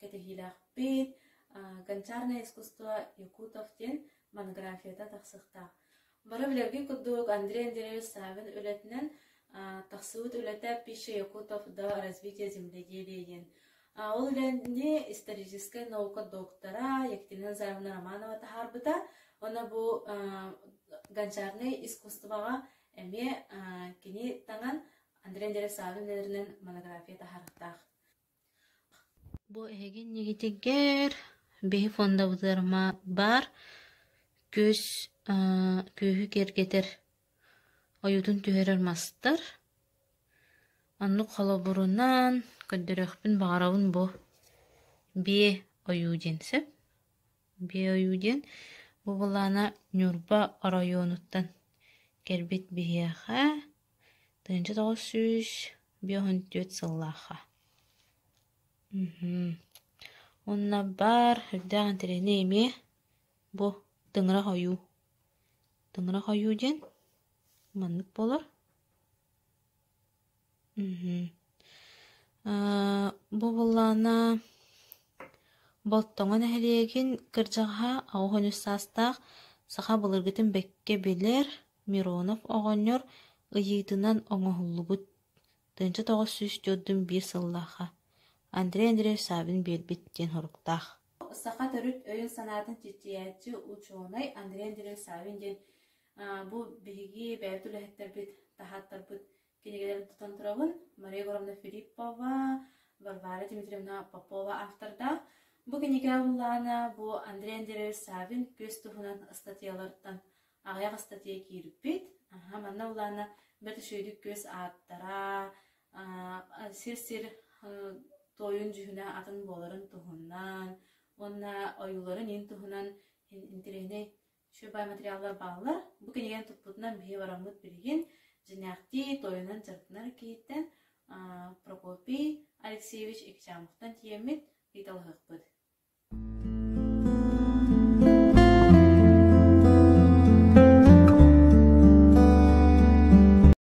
кэтэһиилээхпит «Гончарное искусство Якутов» диэн монографията тахсыахтаах. Бары билэргин курдук Андрей Андреевич Савин үлэтинэн тахсыбыт үлэтэ «Пища Якутов до развития земледелия» диэн. Ол үлэни историческай наука доктора Екатерина Назаровна Романова таһаарбыта. Оны бу гончарный искусствоға эмиэ кини таңан Андрей Андреев Савин өнеринен монография таһарыктаах. Бу эһиги иннигитигэр биһи фондабытыарма баар күөс аа күөһү киэргэтэр ойуутун түһэрэр мастар. Оннук холобурунан көрдөрүөхпүн баҕарабын бу биэ ойуу диэн сөп. Беойу диэн бу былаана Ньурба оройуонуттан кэлбит биһиэхэ тыһыынча тоҕус сүүс биэһун түөрт сыллаахха. Уонна баар үрдээх интэриэһинэй эмиэ бу тыҥырах ойуу. Тыҥырах ойуу диэн маннык буолар Бу былаана Болтоҥо нэһилиэгин кырдьаҕаһа аҕыс үс саастаах саха былыргытын бэккэ билэр Миронов оҕонньор ыйыытынан оҥоһуллубут тыынча тоҕус сүүс түөртүн биир сыллаахха Андрей Андреевич Саввин биэрбит диэн соруктаах. Саха төрүт өйүн-санаатын чинчийээччи, учуонай Андрей Андреевич Саввин диэн Бу биһиги бэйэбит үлэһиттэрбит, таһааттарбыт кинигэлэрин тутан турабын. Мария Егоровна Филиппова, Варвара Дмитриевна Попова автордаах. Бу кинигэҕэ буллаана бу Андрей Андреевич Савин күөс туһунан ыстатыйаларыттан аҕыйах ыстатыйа киирбит. Аха, манна буллаана бэрт үчүгэйдик күөс ааттара, сир-сир тойун дьүһүнэ атын буоларын туһунан уонна ойууларын иин туһунан интэриэһинэй Святой материаллар бааллар. Бу кинигэни туппутунан биһи бараммыт билигин дьиҥнээхтии тойонун дьарыктанар киһиттэн Прокопий Алексеевич Ичамовтан тиэммит ыйыталаһыахпыт.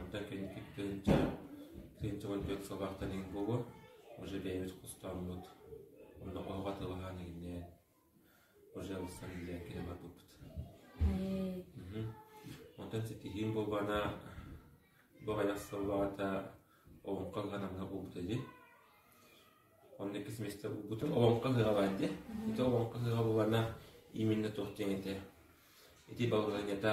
Онтон кэнники тыһыынча тыһыынча уон түөрт сыллаахтан иһин буолуо, уже бэйэбит хостооммут, онно оһоҕо атылаһаан игиннээн, пожалуйстан үлэлээн кэлэн барбыппыт. Мм. Онтон ситиһиим буолбаана бу аҕыйах сыллаата Олоҥхо ыһана мына буолбута дии. Онно иккис месте булбутум Олоҥхо ыһыга баар дии. Ити Олоҥхо ыһыга буолана именно туох диэн этэ. Ити балыгынята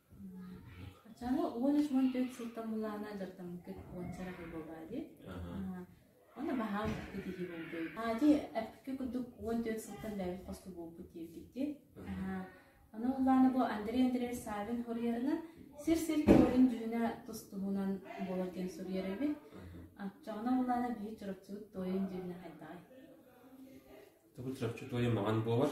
Чаны уонус уон төрүт сылтан булаана дьартамыккыт уон сараҕы буолаали. Онно баһаам китиһи болдой. Ати эпке курдук уон төрүт сылтан лээбит хосту буолбут диэбитти. Аны улаана бу Андрей Андреевич Савин хорьерынан сир сир көрүн дьүһүнэ тустуһунан болар диэн суруйарыбит. Аччаҕына улаана биир чурапчыбыт тойын дьүһүнэ хайдаҕай. Тобу чурапчы тойын маған буолар.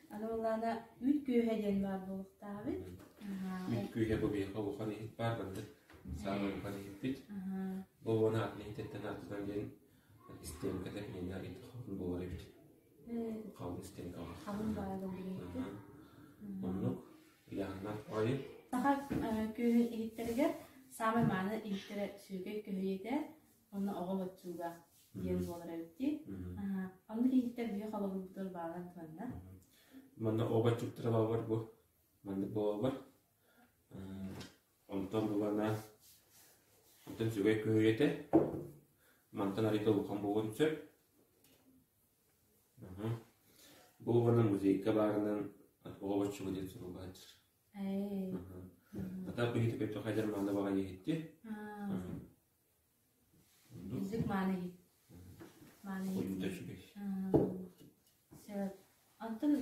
Аны ыллаана үл күөһэ диэн баар буолуохтаабыт. Үл күөһэ бу биһиэхэ улахан иһит баар гыннык. Саамай улахан иһиппит. Бу уон аатын иһиттэн артынан диэн истиэмкэтэ кинини арыйда халын буолар эбит. Халын истиэҥкэ бар. Халын баар да билиэхпит. Оннук Иоаннар ойын. Саха күөһэ иһиттэригэр саамай мааны иһиттэрэ сүөгэй күөһэ этэ. Онно оҕо боччууга диэн буолар эбит дии. Онно киһиттэр биһи холобурбутугар баалан туһанна. Манна оҕо боччуктара баалар бу. Маннык буолалар. Онтон булана онтон сүгэй көһүйэтэ. Мантан арыйда улахан буолан сөп. Бу уонан музейка баарынан оҕо боччуга диэн сурулгаачыр. Ата бихитипе то хайдар манна баҕа ехетти. Итинник мааныйы сөп. Онтон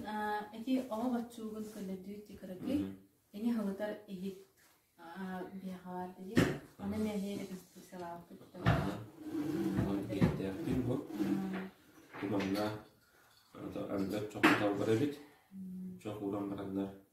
ити оҕо боччуугун көрдөрдүү декоратив эҥи халытар иһит биһиэхэ баар дии. Аны мэһиэ реконструкциялаабыппыт Киэптээхтиин бу. Манна анда чох талбар эбит. Чох ууран бараннар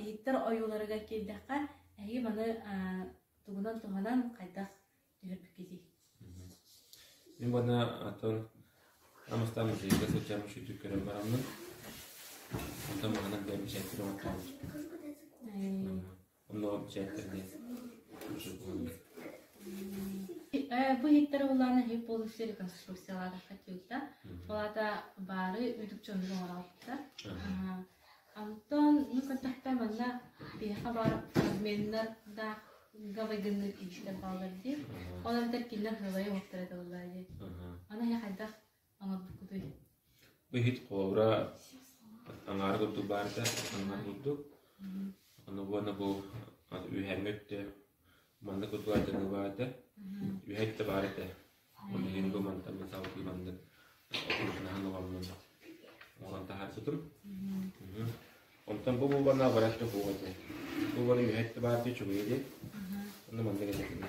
иһиттэр ойууларыгар киирдэххэ эһиги маны тугунан туһанан хайдах түһэрбиккитий мин бана атын амыстан музейга сылдьам үшүтүк көрөн бараммын онтон маанан бэйэм бисээнтир оҥоттообут Онно чээктэргэ Бу иһиттэр улаана иһи полностью реконструкциялаата хатыыта. Олата баары үрдүк дьонун оҥороотта. Онтон ну контакта манна биһиэхэ баар спортсменнар да гавайгынныыр иистэр бааллар дии. Ол эбэтэр кинилэр хылайы оҥоттор этэ буоллаа дии. Аны эһэ хайдах Ыһыт ховра аҥаара курдук баар да, аннар курдук. Ону уонна бу үһэҥҥэ өттө маннык курдук ардыныы баар да, үһэ өттө баар этэ. Ону иһин бу мантан металлтыы маннык отуннаһан оҕоммун оҥорон таһаарбытым. Мхм. Онтон бу буолбанна барар да буол этэ. Бу буола үһэ өттө баар дии чугуйа дии. Ону маннык этэ кинэ.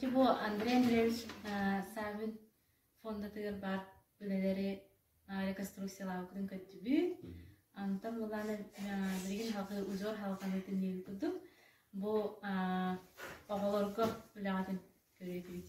Чэ бу Андрей Андреевич Саввин фондатыгар баар үлэлэри реконструкциялаабыккытын көрдүбүт. Онтон булааны билигин халҕыы узор халҕаныытын диэн курдук бу оҕолорго үлэҕитин көрүөтүбүт.